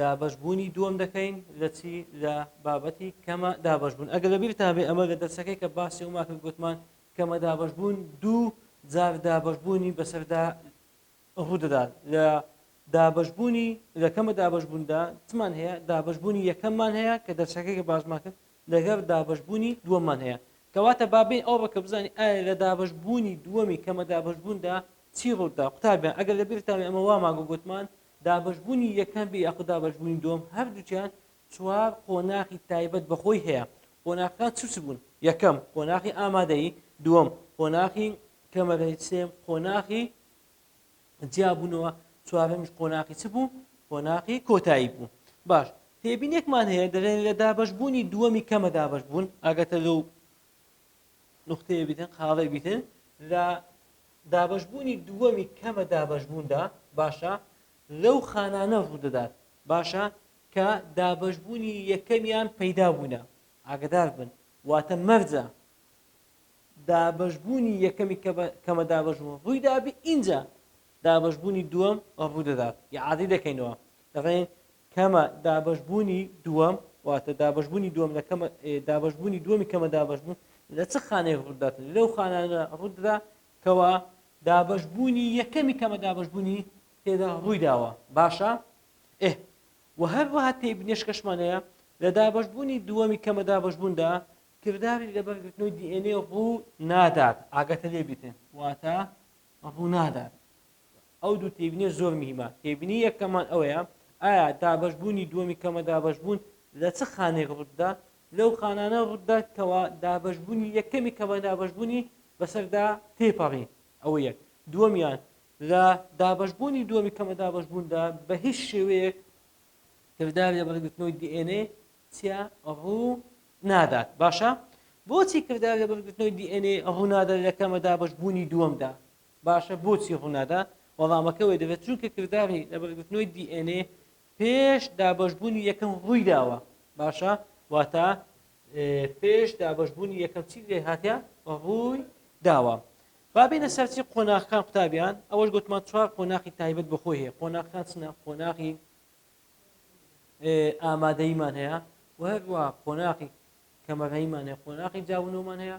دابەش بوونی دووەم دەکەین لە چی لە بابەتی کەمە دابەش بوون ئەگەر لە بیرتان بێ ئەمە لە دەرسەکەی کە باسی ئەوما کرد گوتمان کەمە دابەش بوون دوو جار دابەش بوونی بەسەردا ڕوودەدات لە دابەش بوونی لە کەمە دابەش بووندا چمان هەیە دابەش بوونی یەکەممان هەیە کە دەرسەکەی کە باسمان کرد لەگەر دابەش بوونی دووەممان هەیە کەواتە بابین ئەو ڕکە بزانانی ئایا لە دابەش بوونی دووەمی کەمە دابەش بووندا چی ڕوودا قوتابیان ئەگەر لە بیرتان ئەمە وامان گوتمان دابەشبوونی یەکەم بێ یاخود دابەشبوونی دووەم هەردووکیان چوار قۆناخی تایبەت بە خۆی هەیە قۆناخەکان چ چ بوون یەکەم قۆناخی ئامادەیی دووەم قۆناخی کەمەرەی سێم قۆناخی جیابوونەوە چوارەمیش قۆناخی چ بوو قۆناخی کۆتایی بوو باش تێبینێکمان هەیە دەڵێن لە دابەشبوونی دووەمی کەمە دابەش بوون ئاگەتە لەو نقطەیە بیتن قاڵێ بیتن لە دابەشبوونی دووەمی کەمە دابەشبووندا، باشە، لەو خانانە ڕوودەدات، باشە، کە دابەشبوونی یەکەمیان پەیدا بوونە، ئاگەدار بن، واتە مەرجە دابەشبوونی یەکەمی کەمە دابەشبوون ڕوویدابی ئینجا دابەشبوونی دووەم ڕوودەدات، ئیعادەی دەکەینەوە، دەڵێین کەمە دابەشبوونی دووەم، واتە دابەشبوونی دووەم لە کەمە دابەشبوونی دووەمی کەمە دابەشبوون لە چ خانەیەک ڕوودەداتن لەو خانانە ڕوودەدا کەوا دابەشبوونی یەکەمی کەمە دابەشبوونی تێدا ڕوویداوە باشە ئه و هەروەها تێی بنێشکەشمانەیە لە دابەشبوونی دووەمی کەمە دابەشبووندا کرداری لە بەرگرتنەوەی دیێنێ ڕوو نادات ئاگەتە لێبیتن واتە ڕوو نادات ئەو دوو تێبینیە زۆر مهیمە تێبینی یەکەمان ئەوەیە ئایا دابەش بوونی دووەمی کەمە دابەش بوون لە چ خانێک ڕووتدا لەو خانانە ڕووتدا کەوا دابەش بوونی یەکەمی کەمە دابەش بوونی بەسەردا تێپەڕی ئەوە یەک دووەمیان لە دابەش بوونی دووەمی کەمە دابەش بووندا بە هیچ شێوەیەک کردار لە بەرگرتنەوەی DNA چیا ڕوو نادات باشە بۆچی کردار لە بەرگرتنەوەی DNA ڕوونادە لە کەمە دابەش بوونی دووەمدا باشە بۆچی ڕوونادا؟ وەڵامەکە وەی دەبێت چونکە کرداری لەبەرگرتنەوەی دی ئێن ئێ پێش دابەشبوونی یەکەم ڕووی داوە باشە واتە پێش دابەشبوونی یەکەم چی لێ هاتە ڕووی داوە بابینە سەرچی قۆناخەکان قوتابیان ئەوەش گوتمان چوار قۆناخی تایبەت بەخۆی هەیە قۆناخەکان چنە قۆناغی ئامادەیمان هەیە و هەروە قۆناقی کەمەرەیمان هەیە قۆناقی جاونەوەمان هەیە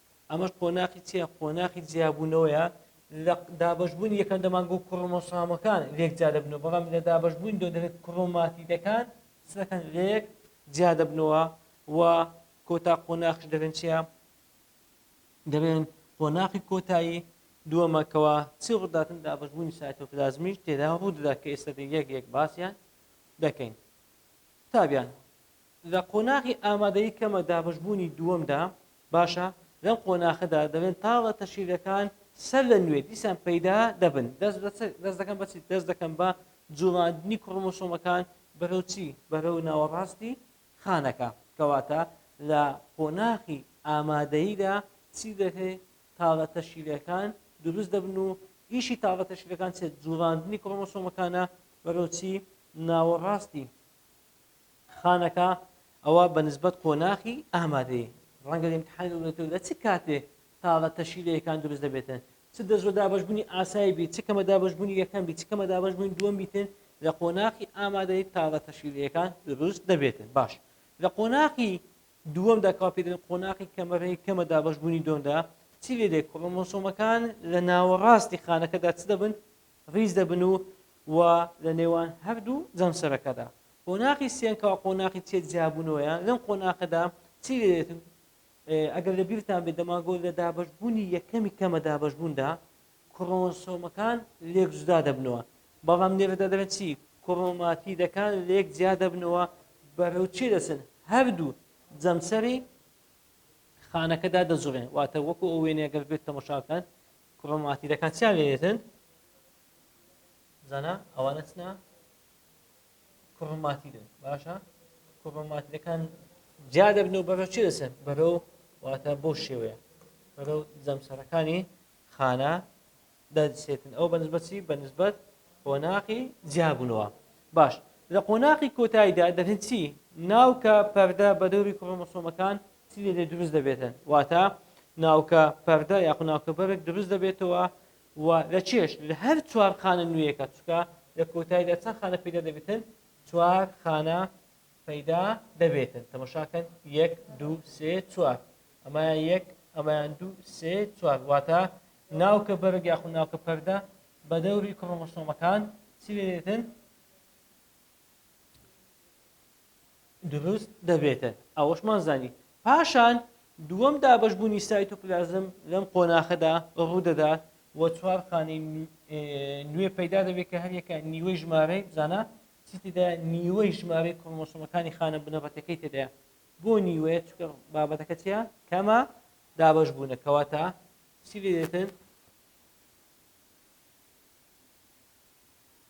ئەمەش قۆناخی چیە؟ قۆناخی جیابوونەوەیە لە دابەشبوونی یەکەم دەمانگە و کڕۆمۆسۆمەکان لێک جیا دەبنەوە بەڵام لە دابەشبوونی دووەم دەبێت کڕۆماتیدەکان چ دەکەن لێک جیا دەبنەوە و کۆتا قۆناخش دەبێن چیە؟ دەبێن قۆناخی کۆتایی دووەمە کەوا چی ڕووداتن دابەشبوونی سایتۆپلازمیش تێدا ڕوو دەدا کە ئێستا یەک یەک باسیان دەکەین قوتابیان لە قۆناغی ئامادەیی کەمە دابەشبوونی دووەمدا باشە، لەم قۆناخەدا دەبێن تاڵە تەشکیلەکان سەر لە نوێ دیسان پەیدا دەبن، دەست دەکەن بە چی؟ دەست دەکەن بە جوڵاندنی کڕۆمۆسۆمەکان بەرەو چی؟ بەرەو ناوەڕاستی خانەکە، کەواتە لە قۆناخی ئامادەییدا چی دەکرێ؟ تاڵە تەشکیلەکان دروست دەبن و ئیشی تاڵە تەشکیلەکان چێت؟ جوڵاندنی کڕۆمۆسۆمەکانە بەرەو چی؟ ناوەڕاستی خانەکە، ئەوە بە نسبەت قۆناخی ئامادەیی، ڕەنگە ئیمتیحانی دەوڵەتییەک لە چ کاتێ تا لە تەشیلەیەکان دروست دەبێتن، چ دەزووە دابەشبوونی ئاسایی بی، چ کەمە دابەشبوونی یەکەم بی، چ کەمە دابەشبوونی دووەم بیتن، لە قۆناخی ئامادەیی تا لە تەشیلەیەکان دروست دەبێتن. باش، لە قۆناخی دووەمدا کەوا پێی دەلێن قۆناخی کەمە ڕێی کەمە دابەشبوونی دووەمدا، چی لێدێ کڕۆمۆسۆمەکان لە ناوەڕاستی خانەکەدا چ دەبن؟ ڕیز دەبن و و لە نێوان هەردوو جەمسەرەکەدا قۆناغی سێیان کەوا قۆناغی تێک جیابوونەوەیان لەم قۆناغەدا چی لێت ئەگەر لە بیرتان بێت دەماگۆ لە دابشبوونی یەکەمی کەمە دابشبووندا کڕۆنسۆمەکان لێک جودا دەبنەوە بەڵام لێرەدا دەبێت چی کڕۆماتیدەکان لێک جیا دەبنەوە بەرەو چی دەچن هەردوو جەمسەری خانەکەدا دەجوڵێن واتە وەکو ئەو وێنەگەر بێت تەمەشاکەن کوڕم ئاتی دەکات چیا لێتن زانا ئەوانە چنا کوڕماتی دێت باشە کوڕماتیەکان جیا دەبن و بەرەو چی دەسێت بەرەو واتە بۆ شێوەیە بەرەو جەمسەرەکانی خانە دەسێتن ئەو بەنسبەتی بەنسبەت قۆناقی جیابوونەوە باش لە قۆناقی کۆتاییدا دەبێت چی ناوکە پەردە بە دەوری کڕۆمەسۆمەکان چی لێ دروست دەبێتن واتە ناوکە پەردە یاخو ناوکە بەرگ دروست دەبێتەوە و لە چێش لە هەر چوار خانە نوێیەکە چکە لە کۆتاییدا چەند خانە پیدا دەبێتن چوار خانە پەیدا دەبێتن تەمەشاکەن یەک دوو سێ چوار ئەمە یەک ئەمەیان دوو سێ چوار واتە ناوکە بەرگ یاخو ناوکە پەردە بە دەوری کڕۆمەسۆمەکان چی لێتن دروست دەبێتە ئەوەشمان زانی پاشان دووەم دابش بوونی سایتۆپلازم لەم قۆناخەدا ڕوودەدات و چوار خانەی نوێ پەیدا دەبێت کە هەریەکە نیوەی ژمارەی بزانە چیتدا نیوەی ژمارەی کۆمۆسمەکانی خانە بنەڕەتەکەی تێدایە بۆ نیوەیە چکە بابەتەکە چیە کەمە دابش بوونە کەواتە چی لێتن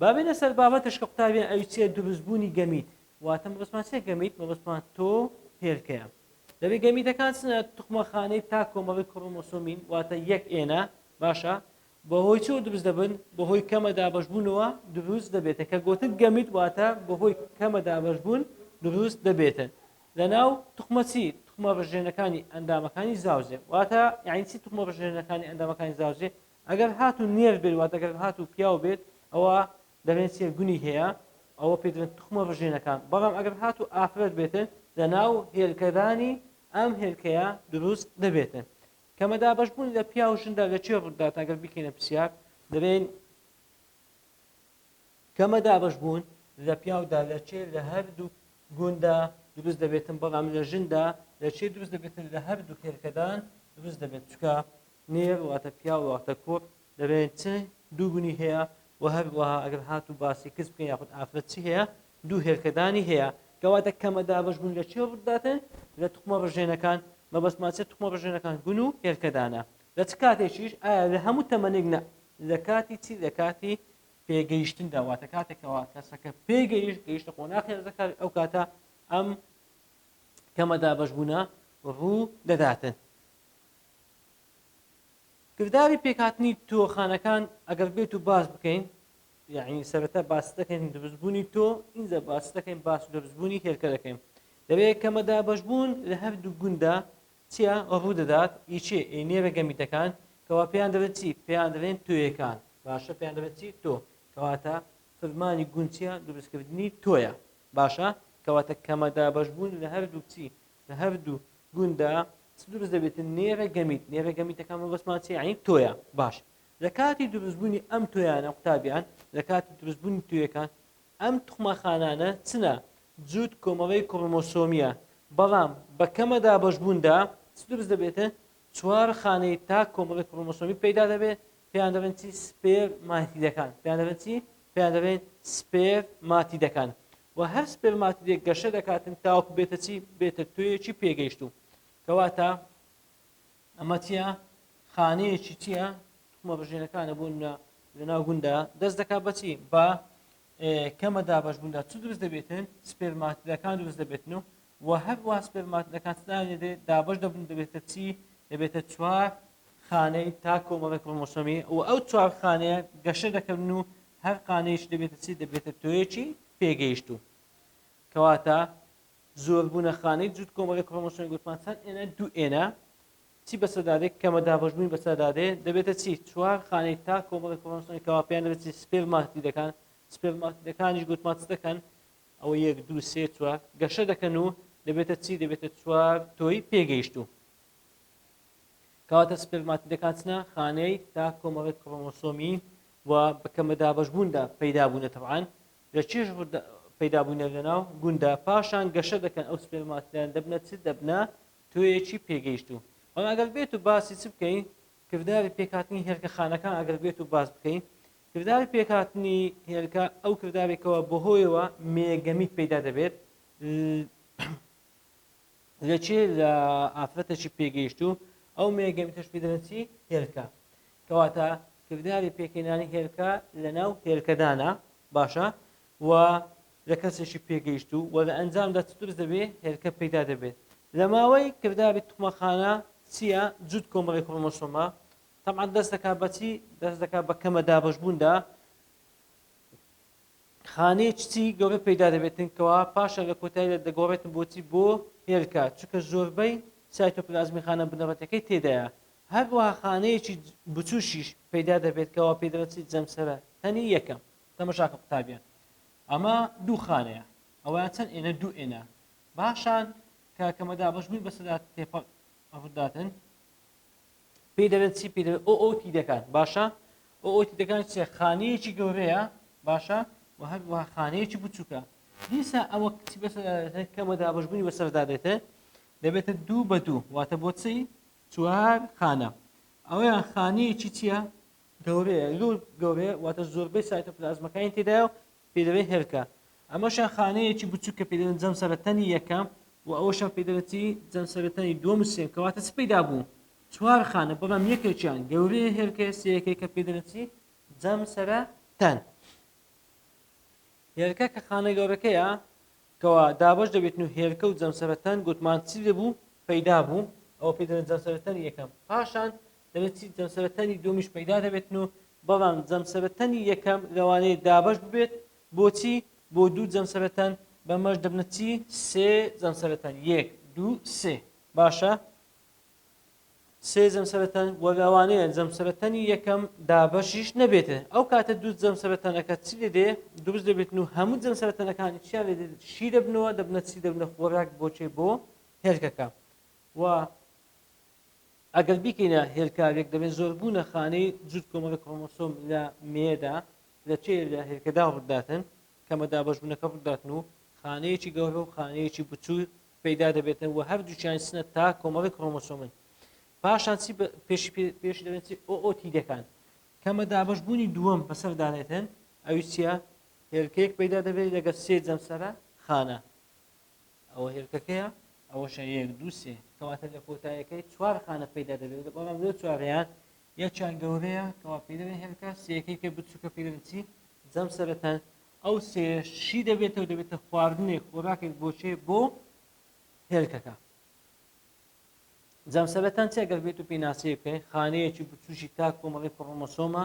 با بێینە سەر بابەتش کە قوتابیان ئەوی چیە دروست بوونی گەمیت واتە مەبەستمان چیە گەمیت مەبەستمان تۆ هێلکەیە دەبێت گەمیتەکان چنە توخمەخانەی تا کۆمەڵی کڕۆمۆسۆمین واتە یەک ئێنە باشە بەهۆی چۆ دروست دەبن بەهۆی کەمە دابشبوونەوە دروست دەبێتە کە گوتت گەمیت واتە بەهۆی کەمە دابشبوون دروست دەبێتن لەناو تخمەچی تخمە ڕژێنەکانی ئەندامەکانی زاوزێ واتە یعنیچی تخمە ڕژێنەکانی ئەندامەکانی زاوزێ ئەگەر هاتوو نێر بێت واتە گەر هاتوو پیاو بێت ئەوە دەبێت چیە گونی هەیە ئەوە پێدرێت تخمە ڕژێنەکان بەڵام ئەگەر هاتوو ئافرەت بێتن لەناو هێلکەدانی ئەم هێلکەیە دروست دەبێتن کەمە دابەشبوون لە پیا و ژندا لە چێ ڕوودات ئەگەر بکەینە پرسیار دەبێن کەمە دابەشبوون لە پیاودا لە چێ لە هەردوو گوندا دروست دەبێتن بەڵام لە ژندا لە چێ دروست دەبێتن لە هەردوو هێلکەدان دروست دەبێت چکە نێر واتە پیاو واتە کوڕ دەبێت چ دوو گونی هەیە و هەروەها ئەگەر هات و باسی کچ بکەین یاخود ئافرەت چی هەیە دوو هێلکەدانی هەیە کەواتە کەمە دابش بوون لە چێ ڕووداتن لە توخمە ڕژێنەکان مەبەست ماچێت توخمە ڕژێنەکان گون و هێلکەدانە لە چ کاتێکیش ئایا لە هەموو تەمەنێک نە لە کاتی چی لە کاتی پێگەیشتن داواتە کاتێکەوە کەسەکە پێگەیشت گەیشتە قۆناخی هەرزەکار ئەو کاتە ئەم کەمە دابش بوونە ڕوو دەداتن کرداری پێکهاتنی تۆخانەکان ئەگەر بێت و باس بکەین یعنی سەرەتا باس دەکەین دروستبوونی تۆ ئینجا باس دەکەین باس دروستبوونی هێلکە دەکەین لەوەیە کەمە دابەشبوون لە هەردوو گوندا چیا ڕوودەدات ئیچێ ئەی نێرە گەمیتەکان کەوا پێیان دەڵێت چی پێیان دەڵێن توێکان باشە پێیان دەڵێت چی تۆ کەواتە فرمانی گونچیان دروستکردنی تۆیە باشە کەواتە کەمەدا بەشبوون لە هەردوو چی لە هەردوو گونددا چ دروست دەبێتن نێرە گەمیت نێرە گەمیتەکان مەبەستمان چیە یعنی تۆیە باش لە کاتی دروستبوونی ئەم تۆیانە قوتابیان لە کاتی دروستبوونی توێکان ئەم توخمەخانانە چنە جووت کۆمەڵەی کڕۆمۆسۆمیە بەڵام بە کەمە دابەشبووندا چ دروست دەبێتن چوار خانەی تا کۆمەڵی کڕۆمۆسۆمی پەیدا دەبێت پێیان دەڵێن چی سپێر ماتیدەکان پێیان دەڵێن چی پێیان دەڵێن سپێر ماتیدەکان و هەر سپێرماتدێک گەشە دەکاتن تاوەکو بێتە چی بێتە تۆیەکی پێگەیشتوو کەواتە ئەمە چیە خانەیەکی چیە توخمە بژێنەکانە بۆ نە لەناو گوندا دەست دەکات بەچی بە کەمە دابش بووندا چ دروست دەبێتن سپێرماتدەکان دروست دەبێتن و و هەروە سپێرماتدەکان دێ دابش دەبن دەبێتە چی دەبێتە چوار خانەی تا کۆمەڵی کۆمۆسۆمی و ئەو چوار خانەیە گەشە دەکەن و هەر قانەیش دەبێتە چی دەبێتە تۆیەکی پێگەیشتوو کەواتە زۆربوونە خانەی جووت کۆمەڵی کرۆمۆسۆمی گوتمان چەند ئێنە دوو ئێنە چی بە سەدادێک کەمە دابشبووین بە سەدادێ دەبێتە چی چوار خانەی تا کۆمەڵی کرۆمۆسۆمی کەوا پێیان دەبێت سپێرماتی دەکان سپێرماتیدەکانیش گوتمان چ دەکەن ئەوە یەک دوو سێ چوار گەشە دەکەن و دەبێتە چی دەبێتە چوار تۆی پێگەیشتوو کەواتە سپێرماتیدەکان چنە خانەی تا کۆمەڵێک کڕۆمۆسۆمی و بەکەمە دابەشبووندا پەیدا بوونە تەبعان لە چێژ پەیدا بوونە لەناو گوندا پاشان گەشە دەکەن ئەو سپێرماتیدان دەبنە چ دەبنە تۆیەکی پێگەیشتوو بەڵام ئەگەر بێت و باسی چ بکەین کرداری پێکاتنی هێلکە خانەکان ئەگەر بێت و باس بکەین کرداری پێکاتنی هێلکە ئەو کردارێکەوە بەهۆیەوە مێگەمیت پەیدا دەبێت لە چی؟ لە ئافرەتێکی پێگەیشتوو، ئەو مێیە گەمێتەش پێی دەڵێن چی؟ هێلکە. کەواتە کرداری پێکهێنانی هێلکە لەناو هێلکەدانە، باشە؟ و لە کەسێکی پێگەیشتوو و لە ئەنجامدا چ دروست دەبێت؟ هێلکە پەیدا دەبێت. لە ماوەی کرداری توخمەخانە چییە؟ جووت کۆمەڵەی کرۆمۆسۆمە. تەبعەن دەست دەکات بە چی؟ دەست دەکات بە کەمە دابەشبووندا. خانەی چچی گەورە پەیدا دەبێتن کەوا پاشان لە کۆتاییدا دەگۆڕێتن بۆچی بۆ هێلکە چونکە زۆربەی سایتۆپلازمی خانە بنەڕەتیەکەی تێدایە هەروەها خانەیەکی بچووکیش پەیدا دەبێت کەوا پێی دەڵێن چی جەمسەرە تەنی یەکەم تەمەشاکە قوتابیان ئەمە دوو خانەیە ئەوەیان چەند ئێنە دوو ئێنە باشان کە کەمە دابەش بووی بەسەدا تێپەڕ ڕووداتن پێی دەلێن چی پێ دەلێن ئۆ ئۆ تیدەکان باشە ئۆ ئۆ تیدەکان چێ خانەیەکی گەورەیە باشە و هەر وە خانەیەکی بچووکە دیسا ئەوە کچی بەس کەمە دابشبوونی بەسەردا دێتێ دەبێتە دوو بە دوو واتە بۆ چی چوار خانە ئەویان خانەیەکی چییە گەورەیە زۆر گەورەیە واتە زۆربەی سایتە پلازمەکانی تێدایە و پێی دەڵێن هێلکە، ئەمەشیان خانەیەکی بچووک کە پێی دەڵێن جەمسەرەتەنی یەکەم و ئەوەشیان پێی دەڵێن چی جەمسەرەتەنی دووەم و سێم کەواتە چ پەیدا بوو چوار خانە بەڵام یەکێکیان گەورەیە هێلکەیە سێیەکەی کە پێی دەڵێن چی جەمسەرەتەن هێلکە کە خانە گەورەکەیە کەوا دابەش دەبێتن و هێلکە و جەمسەرەتان گوتمان چی دەبوو پەیدا بوو ئەوە پێی دەڵێن جەمسەرەتانی یەکەم پاشان دەبێت چی جەمسەرەتانی دومیش پەیدا دەبێتن و بەڵام جەمسەرەتانی یەکەم لەوانەیە دابەش ببێت بۆچی بۆ دوو جەمسەرەتان بەمەش دەبنە چی سێ جەمسەرەتان یەک دوو سێ باشە سێ جەمسەرەتەن و لەوانەیە جەمسەرەتەنی یەکەم دابەشیش نەبێتێ ئەو کاتە دوو جەمسەرەتەنەکە چ لێدێ دروست دەبێتن و هەموو جەمسەرەتەنەکانی چیان لێ شی دەبنەوە دەبنە چی دەبنە خۆراک بۆچێ بۆ هێلکەکە و ئەگەر بیکەینە هێلکاوێک دەبێت زۆربوونە خانەی جوود کۆمەڵە کۆمۆسۆم لە مێدا لە چێ لە هێلکەدا ڕووداتن کەمە دابەشبوونەکە ڕووداتن و خانەیەکی گەورە و خانەیەکی بچوو پەیدا دەبێتە وە هەردووکیان چنە تا کۆمەڵی کڕۆمۆسۆمن پاشان چی پێشی پێشی دەبێت ئۆتی دەکان کەمە دابش بوونی دووەم بەسەر دانێتن ئەوی چیە هێلکەیەک پەیدا دەبێت لەگەر سێ جەمسەرە خانە ئەوە هێلکەکەیە ئەوەشە یەک دووسێ کەواتە لە کۆتایەکەی چوار خانە پەیدا دەبێت بەڵام لەو چوارەیان یەکیان گەورەیە کەوا پێی دەڵێن هێلکە، سێیەکەی تر بچووکە پێی دەڵێن چی؟ جەمسەرەتە، ئەو سێیەش چی دەبێتەوە؟ دەبێتە خواردنێک، خۆراکێک بۆ کێ؟ بۆ هێلکەکە. جەمسەرەتان چیە؟ گەر بێت و پێناسەی بکەین، خانەیەکی بچووکی تاک کۆمەڵی کڕۆمۆسۆمە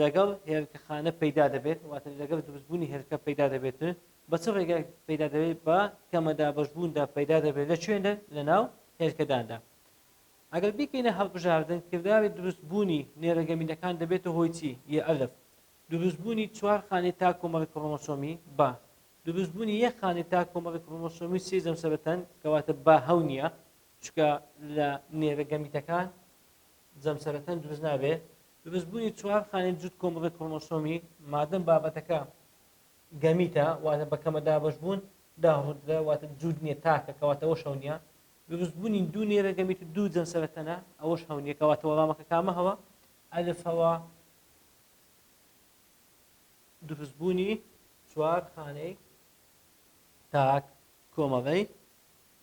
لەگەڵ هێلکە خانە پەیدا دەبێت، واتە لەگەڵ دروستبوونی هێلکە پەیدا دەبێت، بە چ ڕێگایەک پەیدا دەبێت؟ بە کەمە دابەشبووندا پەیدا دەبێت، لە کوێندا؟ لەناو هێلکەداندا. ئەگەر بیکەینە هەڵبژاردن کرداری دروست بوونی نێرە گەمیدەکان دەبێتە هۆی چی؟ ی ئەلف دروست بوونی چوار خانەی تا کۆمەڵی کڕۆمۆسۆمی، بە، دروست بوونی یەک خانەی تا کۆمەڵی کڕۆمۆسۆمی سێی جەمسەرە تەن کەواتە با هەو نیە چونکە لە نێرە گەمیدەکان جەمسەرە تەن دروست نابێ دروست بوونی چوار خانەی جووت کۆمەڵی کڕۆمۆسۆمی مادەم بابەتەکە گەمیتە واتە بە کەمە دابەش بوون دا ڕوودرە واتە جووت نیە تاکە کەواتە وەشەو نیە دروست بونی دوو نێرە گەمیت و دوو جەمسەرە تەنە ئەوەش هەو نیە کەواتە وەڵامەکە کامە هەوە ئەلف هەوا دروست بونی چوار خانەی تاک کۆمەڵەی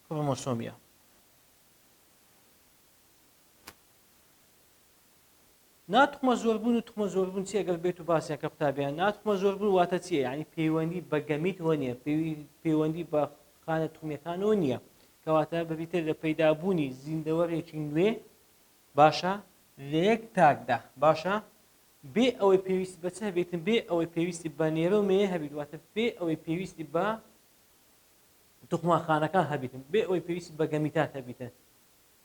کڕۆمۆسۆمیە. نا توخمە زۆربوون و توخمە زۆربوون چیە گەر بێت و باسیان کە قوتابیان نا توخمە زۆربوون واتە چیە یعنی پەیوەندی بە گەمیتەوە نییە پەیوەندی بە خانە توخمیەکانەوە نییە کەواتە بەبیتر لە پەیدابوونی زیندەوەرێکی نوێ باشە لە یەک تاکدا باشە بێ ئەوەی پێویستی بەچ هەبێتن بێ ئەوەی پێویستی بە نێرە و مێ هەبیت واتە بێ ئەوەی پێویستی بە توخماخانەکان هەبیتن بێ ئەوەی پێویستی بە گەمیتات هەبیتن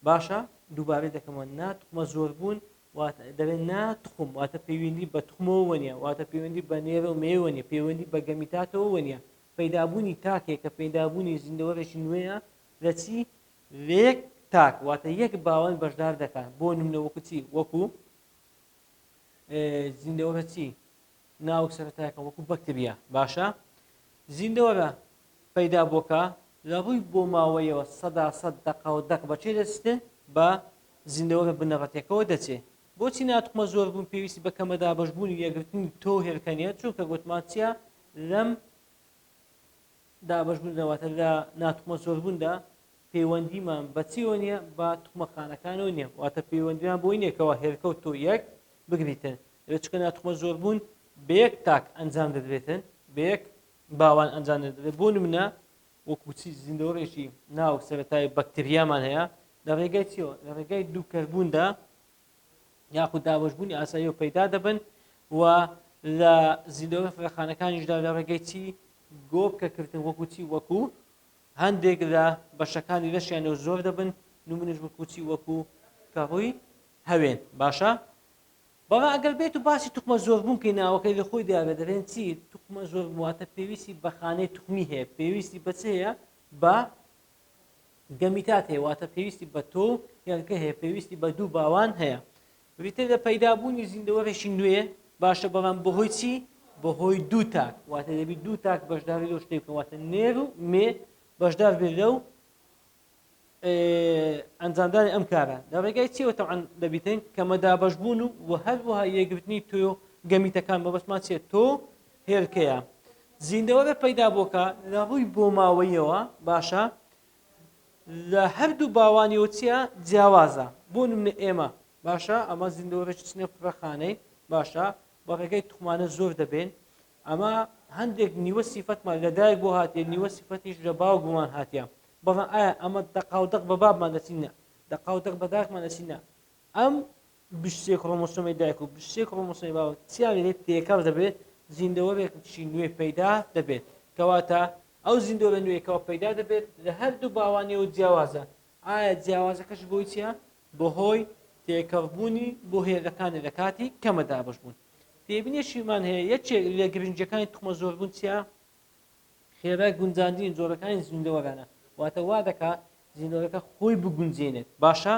باشە دووبارەی دەکەمەوە نا توخمە زۆربوون واتە دەبێت نا توخم واتە پەیوەندی بە توخمەوە وەنیە واتە پەیوەندی بە نێرە و مێوە نیە پەیوەندی بە گەمیتاتەوە وەنیە پەیدابوونی تاکێک کە پەیدابوونی زیندەوەرێکی نوێیە لە چی لە یەک تاک واتە یەک باوەن بەشدار دەکات بۆ نمونە وەکو چی وەکو زیندەوەرە چی ناوک سەرەتایەکە وەکو بەکتریا باشە زیندەوەرە پەیدا بۆکە لە ڕووی بۆ ماوەیەوە سەدا سەد دەقا و دەق بەچێ دەچێ بە زیندەوەرە بنەڕەتەکەەوە دەچێ بۆچی ناتخمە زۆر بوون پێویستی بە کەمە دابشبوونی یەگرتنی تۆ هێرکەنیە چونکە گوتمان چیە لەم دابەش بووندا واتە لە ناتوخمە زۆر بووندا پەیوەندیمان بە چیەوە نیە بە توخمە خانەکانەوە نیە واتە پەیوەندیان بۆی نیە کەوا هێلکە و تۆ یەک بگریتن لە چکە ناتوخمە زۆر بوون بە یەک تاک ئەنجام دەدرێتن بە یەک باوان ئەنجام دەدرێت بۆ نمونە وەکوچی زیندەوەڕێکی ناو سەرەتای بەکتریامان هەیە لە ڕێگای چیەوە لە ڕێگای دووکەربووندا یاخود دابەشبوونی ئاساییەوە پەیدا دەبن و لە زیندەوە فڕێخانەکانیشدا لە ڕێگەی چی گۆپکە کردن وەکو چی وەکو هەندێک لە بەشەکانی لەشیانەوە زۆر دەبن نمونش وەکو چی وەکو کەڕووی هەوێن باشە بەڵا ئەگەر بێت و باسی توخمە زۆربوون کەی ناوەکەی لە خۆی دیارە دەرێن چی توخمە زۆر واتە پێویستی بەخانەی توخمی هەیە پێویستی بەچەیە بە گەمیتات هەیە واتە پێویستی بە تۆو یانکە هەیە پێویستی بە دوو باوان هەیە بریتە لە پەیدابوونی زیندەوەرێکی نوێ باشە بەڵام بەهۆی چی بەهۆی دوو تاک واتە دەبی دوو تاک بەشداری لەو شتێک واتە نێر و مێ بەشدار بێت لەو ئەنجامدانی ئەم کارە لە ڕێگای چیەوە تەعاان دەبیتن کەمە دابش بوون و هەروەها یەگرتنی تۆ گەمیتەکان بەبستمان چێت تۆ هێلکەیە زیندەوەرە پەیدا بۆکە لە ڕووی بۆماوەیەوە باشە لە هەردوو باوانیەوە چیە جیاوازە بۆ نمە ئێمە باشە ئەمە زیندەوەرەش چنە کوڕەخانەی باشە بە ڕێگەی تخمانە زۆر دەبێن ئەمە هەندێک نیوە سیفەتمان لە دایک بۆ هااتێ نیوە سیفەتیش لە باو بوومان هااتە بەڵام ئایا ئەمە دەقاودەق بە بابمان دەچینە دەقاودەق بەداکمان دەچینە ئەم بشتێ کڕۆمۆسۆمی دایک و بشتێ کڕۆمۆسۆمی باوک چیانی لێ تێکەڵ دەبێت زیندەوەرێکشی نوێ پەیدا دەبێت کەواتە ئەو زیندەوەرە نوێیەکەوە پەیدا دەبێت لە هەردوو باوانیەوە جیاوازە ئایا جیاوازەکەش بۆی چیە بەهۆی تێکەڵبوونی بۆ هێزەکانی لە کاتی کەمە دابەش بوون تێبینێکیمان هەیە یەکێک لە گرنجەکانی تخمە زۆربوون چیە خێرای گونجاندنی جۆرەکانی زیندەوەرانە، واتە وا دەکا زیندەوەرەکە خۆی بگونجێنێت، باشە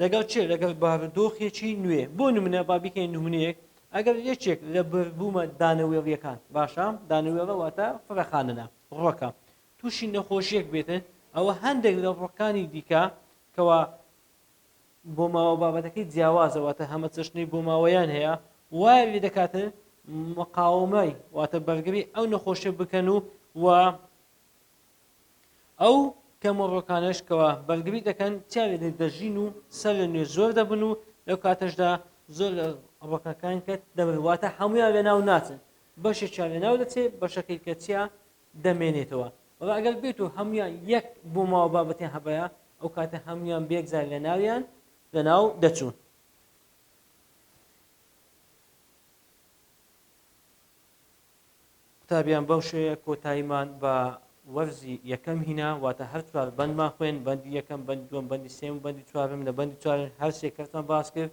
لەگەڵ چێ؟ لەگەڵ بارودۆخێکی نوێ، بۆ نمونە با بیکەین نمونەیەک، ئەگەر یەکێک لە بەربوومە دانەوێڵیەکان، باشە دانەوێڵە واتە فرەخانەنە، ڕۆکە، تووشی نەخۆشیەک بێتن، ئەوە هەندێک لە ڕۆکانی دیکە کەوا بۆماوە بابەتەکەی جیاوازە واتە هەمەچەشنی بۆماوەیان هەیە وایان لێ دەکاتن مقاومەی واتە بەرگری ئەو نەخۆشیە بکەن و و ئەو کەمەڕۆکانشکەوە بەرگری دەکەن چیان لێ دەژین و سەر لە نوێ زۆر دەبن و لەو کاتەشدا زۆر لە ڕۆکەکان کە دەبن واتە هەمویان لە ناو ناچن بەشێکیان لە ناو دەچێت بەشەکەی کەچیا دەمێنێتەوە بەڵام ئەگەر بێت و هەموویان یەک بۆماوە بابەتیان هەبایا ئەو کاتە هەموویان بێکجار لە ناویان لە ناو دەچوون قوتابیان بەو شێوەیە کۆتاییمان بە وەرزی یەکەم هینا واتە هەر چوار بەندمان خوێن بەندی یەکەم بەند دوم بەندی سێم بەندی چوارم لە بەندی چوار هەرسێ کەسمان باس کرد